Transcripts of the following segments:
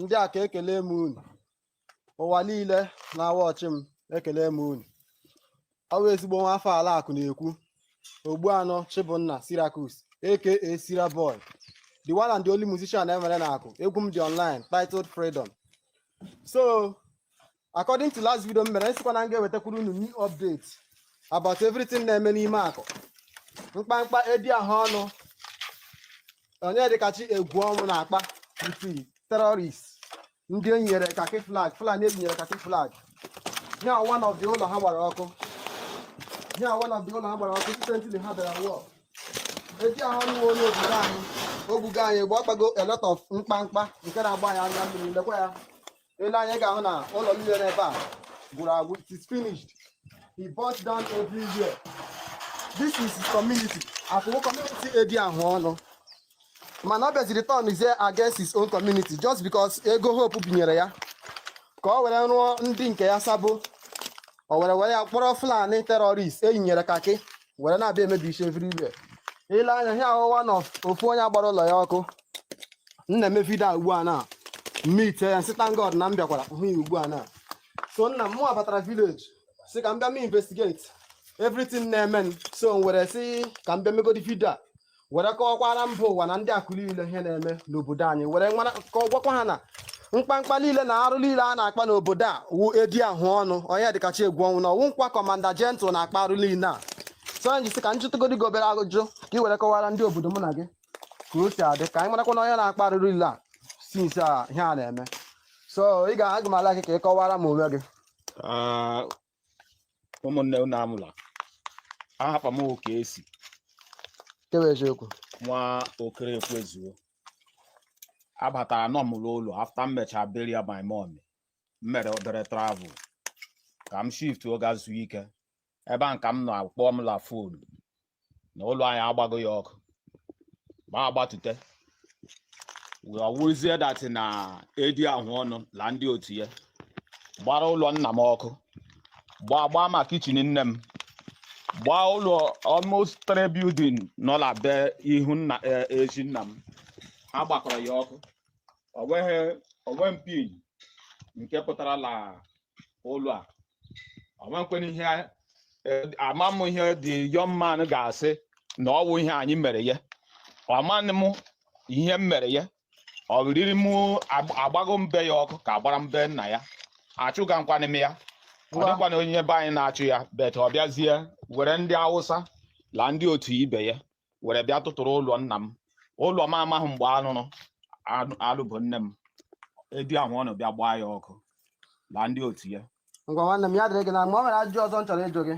ndị Akụ ekele m unu ụwa niile na-awatch m ekele m unu ọ bụ ezigbo nwa afọ ala akụ na-ekwu Ogbuanụ Chibụnna Cyriacus aka Sira Boy the one and the only musician e nwere na Akụ egwu m dị online titled Freedom so according to last video m mere m sịkwa na m ga-ewetakwuru unu new update about everything na-eme n'ime akụ mkpamkpa edi ahụ ọnụ Onyedịkachi Egwuọnwụ na-akpa ndị terrorist ndị e nyere kaki flag fulani e yinyere kaki flag ya one of the ụlọ ha gbara ọkụ ya one of the ụlọ ha gbara ọkụ recently ha bịara war edi ahụ ọnụ nwa onye obodo anyị o gbugo anyị gba ọ kpago a lot of mkpamkpa nke na-agba ya anya mmiri lekwa ya i lee anya ị ga-ahụ na ụlọ niile n'ebe a gwụrụ agwụ it is finished he burnt down everywhere this is community afụwo community edi ahụ ọnụ mana ọ bịaziri turn is against his own community just because ego hope binyere ya ka ọ were rụọ ndị nke ya sabo o were were ya kpọrọ fulani terrorist e yinyere kaki were na-abịa emebisi everywhere i lee anya ihe ahụ one of ofu onye a gbara ụlọ ya ọkụ m na-eme video a ugbu a na m meet ya m sị thank God na m bịakwara hụ ya ugbu a na so nna m mụwa batara village sị ka m bịa mee investigate everything na-eme m so m were sị ka m bịa megodi video a were kọwakwara mba ụwa na ndị akụ niile ihe na-eme n'obodo anyị were nwara ka ọ gwakwa ha na mkpamkpa niile na arụ niile a na-akpa n'obodo a wụ edi ahụ ọnụ Onyedịkachi Egwuọnwụ na ọ wụkwa commander general na-akpa arụ niile a so anyị ji sị ka m jụtụgodi gị obere ajụjụ ka ị were kọwara ndị obodo mụ na gị ka o si adị ka anyị marakwa na onye na-akpa arụ niile a since a ihe a na-eme so ị ga aga m a-like ka ị kọwara m onwe gị Ah, ụmụnne unu anwụla aha papa m oke esi kewe eziokwu nwa okere ekwezuo abatara nọ m n'ụlọ after m mechaa burial my mom m mere obere travel ka m shiftuo gaa zuo ike ebe a ka m nọ a kpọọ m la phone na ụlọ anyị a gbago ya ọkụ ma agbatute wee ọ wụzie that na edi ahụ ọnụ la ndị otu ya gbara ụlọ nna m ọkụ gbaa gbaa ma kitchen nne m gbaa ụlọ almost three building nọ na be ihu nna eh, ezi nna m ha gbakọrọ ya ọkụ o nweghị one pin nke pụtara na ụlọ a amakwana ihe ama m ihe the young man ga-asị na ọ wụ ihe anyị mere ya amanụ m ihe m mere ya ọ riri m agbago mbe ya ọkụ ka a gbara mbe nna ya achụgakwanị m ya ọ dịkwana onye be anyị na-achụ ya but ọ bịazie were ndị awụsa la ndị otu ibe ya were bịa tụtụrụ ụlọ nna m ụlọ m amaghị mgbe alụrụ anụ- alụ bụ nne m edi ahụ ọnụ bịa gbaa ya ọkụ na ndị otu ya ngwa nwanne m ya dịrị gị na mma ọ nwere ajụjụ ọzọ m chọrọ ịjụ gị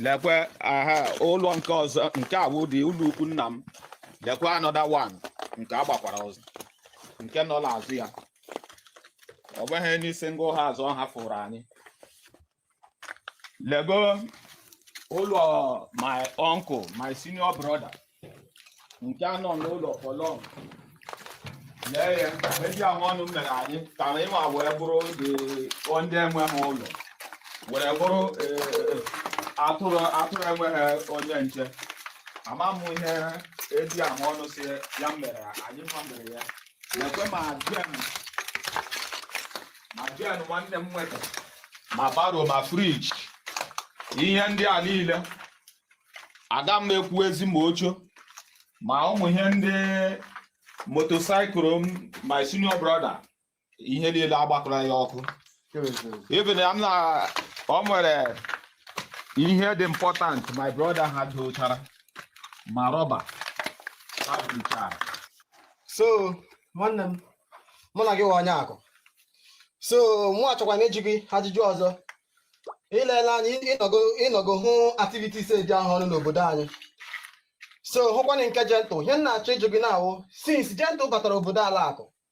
lekwe aha ụlọ nke ọzọ nke a wụ di ụlọ ukwu nna m lekwe another one nke agbakwara ọzọ nke nọ n'azụ ya o nweghị any single house ọ hafụrụ anyị lego ụlọ my uncle my senior brother nke a nọ n'ụlọ for long lee ihe edi ahụ ọnụ mere anyị ka anyị wa were bụrụ ndị enweghị ụlọ were bụrụ eh, atụrụ atụrụ enweghị onye nche ama m ihe edi ahụ ọnụ sị ya mere anyị ma mere ya lekwe ma jen ma jen nwanne m nwere ma barrow ma fridge ihe ndị a niile aga m ekwuwezi ma oche ma ụmụ ihe ndị motorcycle m my senior brother ihe niile agbakọrọ ya ọkụ even ma ọ nwere ihe dị important my brother ha dochara ma rọba ha dochara so nwanne m mana gị wụ onye akụ so mụ achọkwanụ ịjụ gị ajụjụ ọzọ i leela anya ịnọgo ịnọgo hụ activities edi ahụ ọnụ n'obodo anyị so hụkwanị nke gentle ihe m na-achọ ịjụ gị na-awụ since gentle batara obodo ala akụ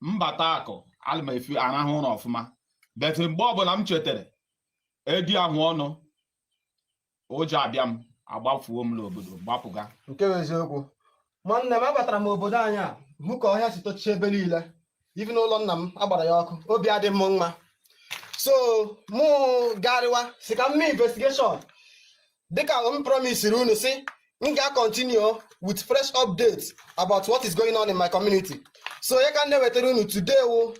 mbata akụ ana m efi arahụ ụra ọfụma but mgbe ọbụla m chetara edi ahụ ọnụ ụjọ abịa m agbafuo m n'obodo gbapụga nke bụ eziokwu nwanne m abatara m obodo anyị ahụ ka ọhịa si tochie ebe niile even ụlọ nna m agbara ya ọkụ obi adị m mma so mụ garịwa sị ka m mee investigation dịka m promisiri unu sị m ga-continue with fresh updates about what is going on in my community so ya ka m na-ewetara unu today wụ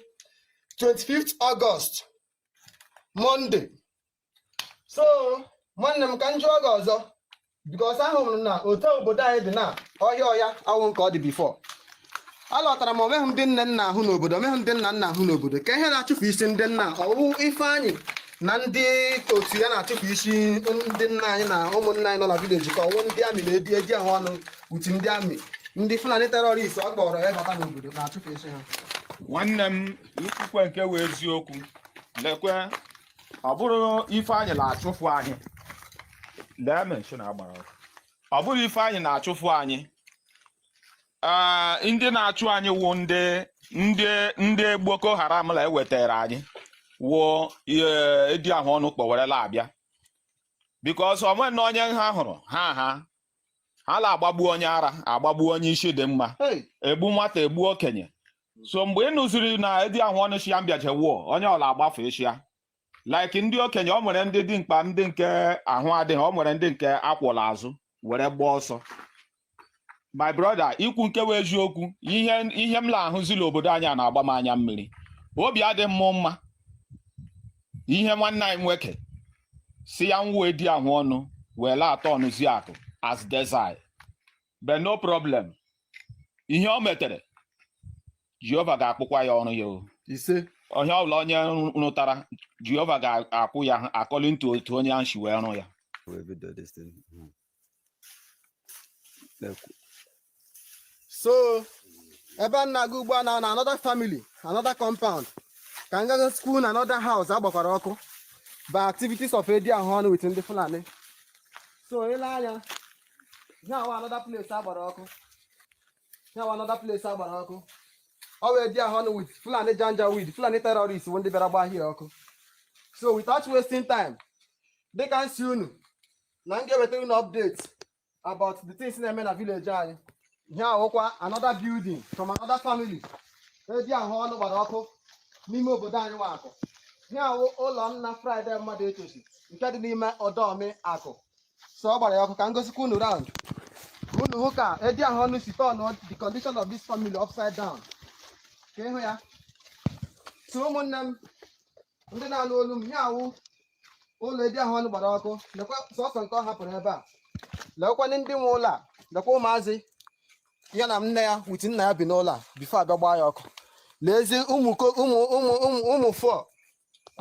25th August Monday so nwanne m ka m jụọ gị ọzọ because ahụrụ m na otu obodo anyị dị na ọhịa ọhịa awụ nke ọ dị before alọtara m onweghị ndị nne m na-ahụ n'obodo onweghị ndị nna m na-ahụ n'obodo kee ihe na-achụpụ isi ndị nna ọwụ ifeanyị na ndị otu ya na-achụpụ isi ndị nna anyị na ụmụnna anyị nọ na village ka ọwụ ndị army na edi ahụ ọnụ uti ndị army ndị fulani terrorist ọ kpọrọ ya bata n'obodo na-achụpụ isi ha nwanne m kwukwe nke wụ eziokwu lekwe ọ bụrụ ifeanyị na-achụfu anyị lee mansion agbara ọkụ. ọ bụrụ ifeanyị na-achụfu anyị Ah, ndị na-achụ anyị wụ ndị ndị ndị Boko Haram la ewetara anyị wụ eh, edi ahụ ọnụ kpọ were la-abịa because onwe na onye ha hụrụ ha ha ha la-agbagbu onye ara agbagbu onye isi dị mma Hey, egbu nwata egbu okenye so mgbe ị nụziri na edi ahụ ọnụ shia mbịaje wụọ onye ọla agbafeshịa like ndị okenye ọ nwere ndị dị mkpa ndị nke ahụ adịghị ọ nwere ndị nke a kwọ l'azụ were gbaa ọsọ my brother ikwu nke wụ eziokwu ihe ihe m na-ahụzi l'obodo anyị a na-agba m anya mmiri obi adị m mma ihe nwanne anyị nwoke sị ya wụ edi ahụ ọnụ were la-atọnụzi akụ as desert but no problem ihe o metere jehova ga-akwụkwa ya ọrụ ya o ise onye ọbụla onye rụ- rụtara jehova ga-akwụ ya according to otu onye ahụ si wee rụ ya we will do this thing. Mhm. Lekwu- so ebe a na-aga ugbu a na na another family another compound ka m ga gosi unu another house a gbakwara ọkụ by activities of edi ahụ ọnụ with ndị fulani so i lee anya ihe a wụ another place a gbara ọkụ ihe a wụ another place a gbara ọkụ ọ wụ edi ahụ ọnụ with fulani janjaweed fulani terrorist bụ ndị bịara gbaa ihe a ọkụ so without wasting time dịka m sị unu na m ga-ewetara unu update about the things na-eme na village anyị ihe a wụkwa another building from another family edi ahụ ọnụ gbara ọkụ n'ime obodo anyị wụ akụ ihe a wụ ụlọ nna Friday mmadụ etosi nke dị n'ime ọdọmi akụ so ọ gbara ya ọkụ ka m gosikwa unu round unu hụ ka edi ahụ ọnụ si turn the condition of this family upside down ka ị hụ ya so ụmụnne m ndị na-anụ olu m ihe a wụ ụlọ edi ahụ ọnụ gbara ọkụ lekwa sọsọ nke ọ hapụrụ ebe a lekwanị ndị nwe ụlọ a lekwa ụmụazị ya na nne ya with nna ya bi n'ụlọ a before a bịa gbaa ya ọkụ lezie ụmụ ụmụ ụmụ ụmụ ụmụ fọ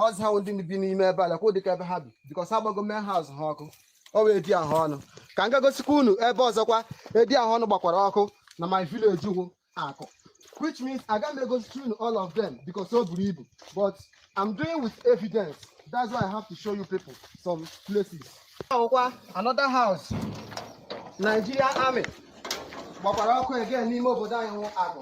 ọzọ ha ndị bi n'ime ebe a lekwa dịka ebe ha bi because a gbago main house ha ọkụ ọ wụ edi ahụ ọnụ ka m ga gosikwa unu ebe ọzọkwa edi ahụ ọnụ gbakwara ọkụ na my village wụ akụ which means aga m egosisi unu all of them because o buru ibu but I'm doing with evidence that's why I have to show you people some places ihe a wụkwa another house Nigeria army gbakwara ọkụ again n'ime obodo anyị wụ akụ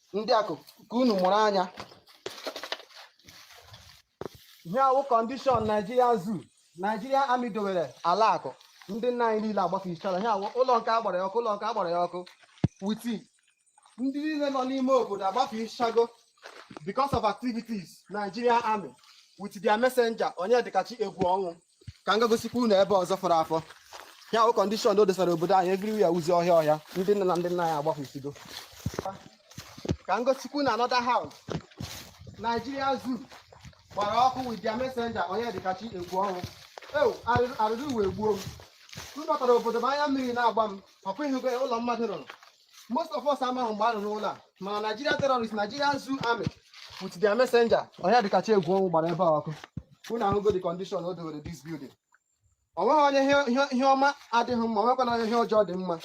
ndị akụ ka unu mụrụ anya ihe a wụ condition Nigeria zoo Nigeria army dowere ala akụ ndị nna anyị niile agbafechara ihe a wụ ụlọ nke a gbara ya ọkụ ụlọ nke a gbara ya ọkụ with ndị niile nọ n'ime obodo a agbafechago because of activities Nigeria army with their messenger Onyedikachi Egwuọnwụ ka m gaa gosikwa unu ebe ọzọ fọrọ afọ ya wụ condition o dosara obodo anyị everywhere wụzị ọhịa ọhịa ndị nne na ndị nna anyị agbafesigo ka m gosikwa unu another house Nigeria zoo gbara ọkụ with their messenger Onyedikachi Egwuonwu ewo arịrị arịrị ụwa egbuo m m batara obodo m anya mmiri na-agba m ọkwa ị hụgo ụlọ mmadụ rụrụ most of us amaghị mgbe a rụrụ ụlọ a mana Nigeria terrorist Nigeria zoo army with their messenger Onyedikachi Egwuonwu gbara ebe a ọkụ unu ahụgo the condition o dowere this building o nweghị onye ihe ọma adịghị mma onwekwana onye ihe ọjọọ dị mma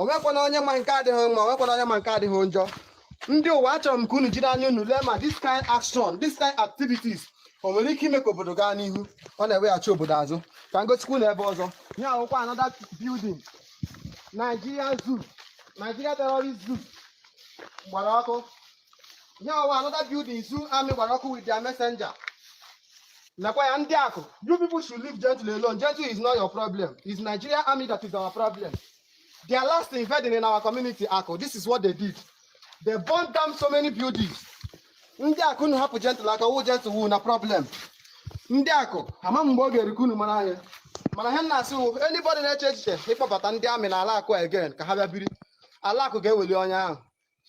onwekwana onye ma nke adịghị mma onwekwana onye ma nke adịghị njọ ndị ụwa achọrọ m ka unu jiri anya unu lee ma this kind action this kind activities o nwere ike ime ka obodo gaa n'ihu ọ na-eweghachi obodo azụ ka m gosikwa unu ebe ọzọ ihe a wụkwa another building Nigeria Zoo Nigeria Terrorist Zoo gbara ọkụ ihe a wụ another building zoo army gbara ọkụ with their messenger nakwa ya ndị Akụ you people should leave Gentle alone Gentle is not your problem it's Nigeria army that is our problem their last invading in our community Akụ this is what they did they burn down so many buildings ndị Akụ unu hapụ Gentle aka awụghị Gentle wụ unu problem ndị Akụ ama m mgbe ọ ga-erukwa unu mara ihe mana ihe m na-asị wụ anybody na-eche echiche ịkpọbata ndị army na ala Akụ again ka ha bịa biri ala Akụ ga-eweli onye ahụ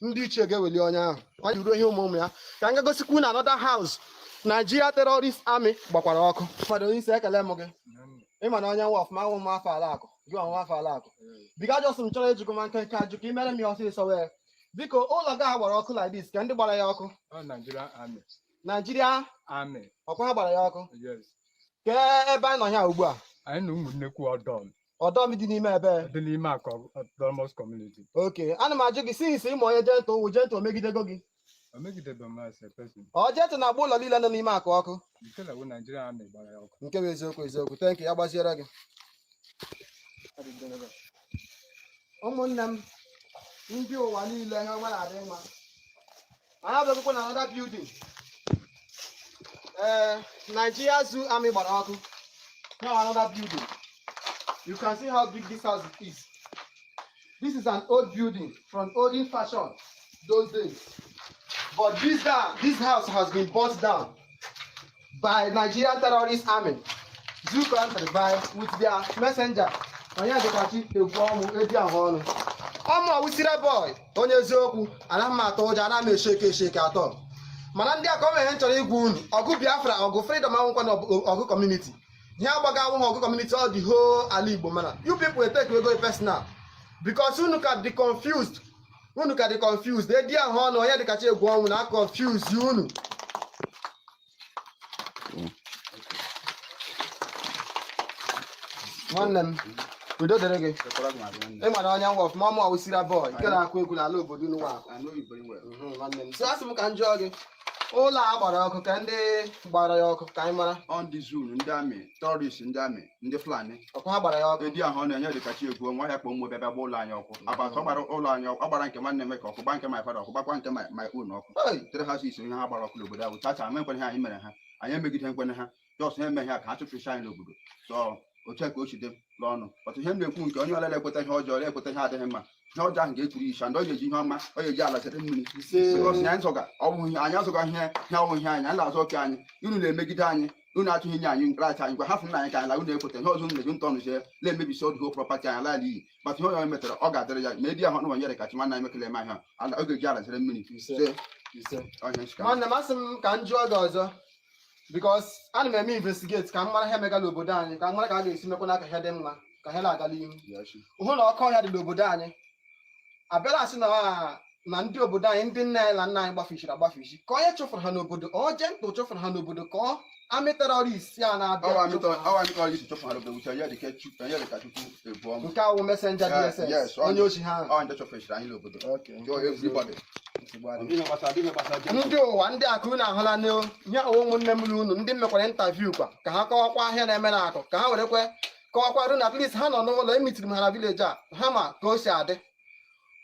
ndị ichie ga-eweli onye ahụ ọ ji ruo ihe ụmụ ụmụ ya ka m ga-egosikwa unu another house Nigeria terrorist army gbakwara ọkụ ụfọdụ onye isi ekele m gị ị ma onye m wụ ọfụma awụ m nwa afọ ala Akụ gị wụ nwa afọ ala Akụ biko a just m chọrọ ịjụkwa ma nkenke ajụjụ ka i mere m ya ọsịsọ wee biko ụlọ gị a gbara ọkụ like this kee ndị gbara ya ọkụ Ọ Nigerian Army. Nigeria Army. ọkwa ha gbara ya ọkụ Yes. kee ebe anyị nọ ya ugbu a Anyị nọ Ụmụnnekwu Ọdọm Ọdọm dị n'ime ebe dị n'ime Akụ autonomous community. okay ana m ajụ gị since ị ma onye Gentle wụ Gentle o megidego gị ọ Gentle na-agba ụlọ niile nọ n'ime Akụ ọkụ nke wụ eziokwu eziokwu thank you ya gaziere gị ụmụnne m ndị ụwa niile ha nwere adị mma anyị abịakwụkwa na another building ee eh, Nigeria Zoo Army gbara ọkụ now another building you can see how big this house is This is an old building from olden fashion those days. But this guy, this house has been burnt down by Nigerian terrorist army. Zoo granted by with their messenger. Onyedikachi Egwuonwu eji ahụ ọnụ. Ọmụ ọwụsire boy onye eziokwu anaghị m atụ ụjọ anaghị m e-shake e-shake at all. Mana ndị Akụ o nwere ihe m chọrọ ịgwa unu ọgụ Biafra ọgụ freedom awụkwana ọgụ community. ihe a gbaga awụghị akụ kọmuniti ọ the whole ala igbo mana you people eteke ego personal because unu ka dị confused unu ka dị confused edi ahụ ọnụ onyedịkachi egwu ọnwụ na confuse unu nwanne m udo dịrị gị ị mara onye nwa ọfụma ọmụ ọwụsira bọọlụ nke na-akụ egwu n'ala obodo unu nwa nwanne m so asị m ka m jụọ gị ụlọ a gbara ọkụ ka ndị gbara ya ọkụ ka anyị mara ọ ndị zoo ndị amị tọrist ndị amị ndị fulani ọkwa ha gbara ya ọkụ edi ahụ ọ onyedịkachi egwu nwa ya kpọ mmụọ bịa bịa gba ụlọ anyị ọkụ agbata ọ gbara ụlọ anyị ọkụ ọ gbara nke nwanne m ka ọkụ gba nke my father ọkụ gbakwa nke my my own ọkụ Hey! three houses ihe ha gbara ọkụ n'obodo ahụ tacha ama ekwere ha anyị mere ha anyị emegide nkwene ha jos ha emeghị ya ka ha chụpụcha anyị n'obodo so otu a ka o si dị n'ọnụ ọtụ ihe m na-ekwu nke onye ọlele ekweta ihe ọjọọ ekweta ihe adịghị mma ihe ọjọọ ahụ ga-eturu icha ndị ọ ga-eji ihe ọma ọ ga-eji ala chere mmiri because na anyị zọga ọ bụ ihe anyị azọga ihe ihe ọnwụ ihe anyị anyị na-azọ oke anyị unu na-emegide anyị unu achọghị inye anyị nkracha anyị ngwa hafụnụ anyị ka anyị la unu ekweta ihe ọzọ unu na-eji ntọnụ jee na-emebisi the whole prọpati anyị ala iyi but ihe onye metara ọ ga-adịrị ya ma edi ahụ wụ onyedịkachi nwanne anyị mekele eme ahịa ala ọ ga-eji ala chere mmiri se ọhịa nchika nwanne m asị m ka m jụọ gị ọzọ because ana m eme investigate ka m mara ihe mega n'obodo anyị ka m mara ka a ga-esi mekwa ka ihe dị mma ka ihe na-aga n'ihu hụ na ọkụ ọhịa dị n'obodo anyị abịala sị m na ah, na ndị obodo anyị ndị nne anyị na nna anyị gbafichiri agbafichi ka onye chụfụrụ ha n'obodo ọ Gentle chụfụrụ ha n'obodo ka ọ amị tọrist a na-abịa ọ wụ amị chụfụrụ ha. tọ awa mi tọ yi si tọ fun alo bẹ wuta ya de kẹ tu ya de ka tutu nke awụ mesenja dss onye ochi ha ndị ụwa ndị akụ unu ahụla na ihe a wụ ụmụnne m unu ndị m mekwara intaviu kwa ka ha kọwakwa ihe na-eme na akụ ka ha werekwe kọwakwara unu atleast ha nọ n'ụlọ emitiri m ha na vileji a ha ma ka o si adị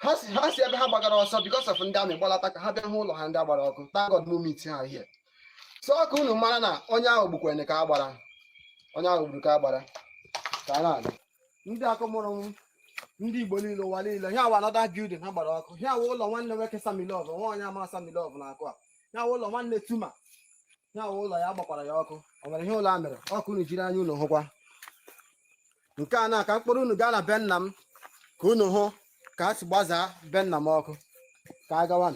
ha si ebe ha gbagara ọsọ bikos of ndị amị gbalata ka ha bịa hụ ụlọ ha ndị agbara ọkụ thank God mụ meet ha here so ọ ka unu mara na onye ahụ gbukwere ka a gbara onye ahụ gburu ka a gbara ka a na-aga ndị akụ mụrụ m ndị igbo niile ụwa niile ihe a wụ anọda bildin ha gbara ọkụ ihe a wụ ụlọ nwanne nwoke samilov nwa onye ama samilov n'akụ a ihe a wụ ụlọ nwanne tuma ihe a wụ ụlọ ya a gbakwara ya ọkụ o nwere ihe ụlọ a mere ọ ka unu jiri anya unu hụkwa nke a na ka m kpọrọ unu gaa na be nna m ka unu hụ ka a si gbazaa be nna m ọkụ ka a gawa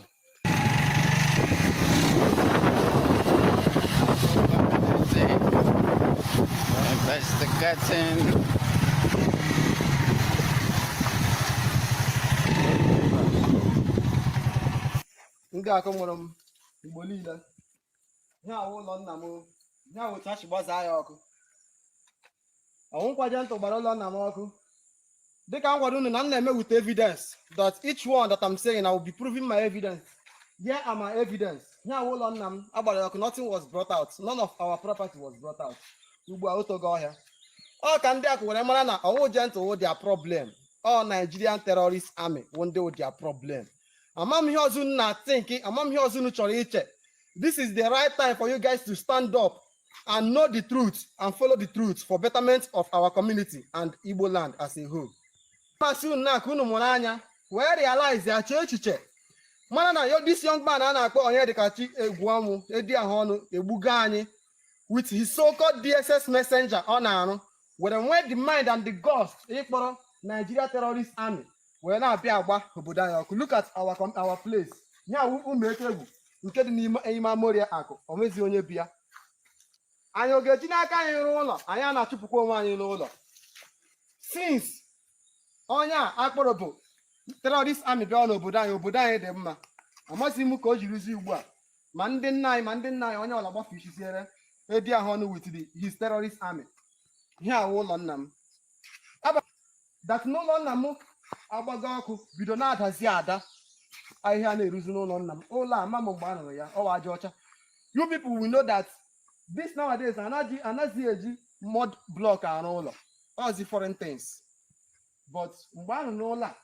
ndị akụ mụrụ m igbo niile ihe a wụ ụlọ nna m ihe a wụ otu ha si gbazaa ya ọkụ ọ wụkwa Gentle gbara ụlọ nna m ọkụ dịka m gwara unu na m na-eme with evidence that each one that I'm saying I will be proving my evidence here are my evidence ihe a wụ ụlọ nna m agbara ya ọkụ nothing was brought out none of our property was brought out ugbu a o togo ọhịa ọ ka ndị Akụ were mara na ọ wụ Gentle wụ their problem ọ Nigerian terrorist army wụ ndị wụ their problem amam ihe ọzọ unu na-think amam ihe ọzọ unu chọrọ iche this is the right time for you guys to stand up and know the truth and follow the truth for betterment of our community and Igbo land as a whole. M sị unu na ka unu mụrụ anya wee realize ya chee echiche mara na yo this young man a na-akpọ Onyedikachi Egwu ọ wụ edi ahụ ọnụ egbugo anyị with his so-called DSS messenger ọ na-arụ were nwee the mind and the guts ịkpọrọ Nigeria terrorist army were na-abịa agba obodo anyị ọkụ look at our com- our place ihe a wụ Ụmụ Eke Egwu nke dị n'ime ime Amoria Akụ o nwezi onye bi ya anyị ọ ga-eji n'aka anyị rụọ ụlọ anyị na-achụpụkwa onwe anyị n'ụlọ since onye a akpọrọ bụ terrorist army bịa n'obodo anyị obodo anyị dị mma amazi m ka o jirizi ugbu a ma ndị nna anyị ma ndị nna anyị onye ọla gbafe isi zeere edi ahụ ọnụ with the his terrorist army ihe a wụ ụlọ nna m that n'ụlọ nna m agbago ọkụ bido na-adazi ada ahịhịa na-eruzi n'ụlọ nna m ụlọ ama m mgbe a rụrụ ya ọ wụ aja ọcha you people will know that this nowadays anazi anazi eji mud block arụ ụlọ ọ zi foreign things but mgbe a rụrụ ụlọ a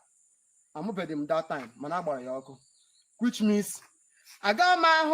amụbeghị m that time mana agbara ya ọkụ which means agaghị m ahụ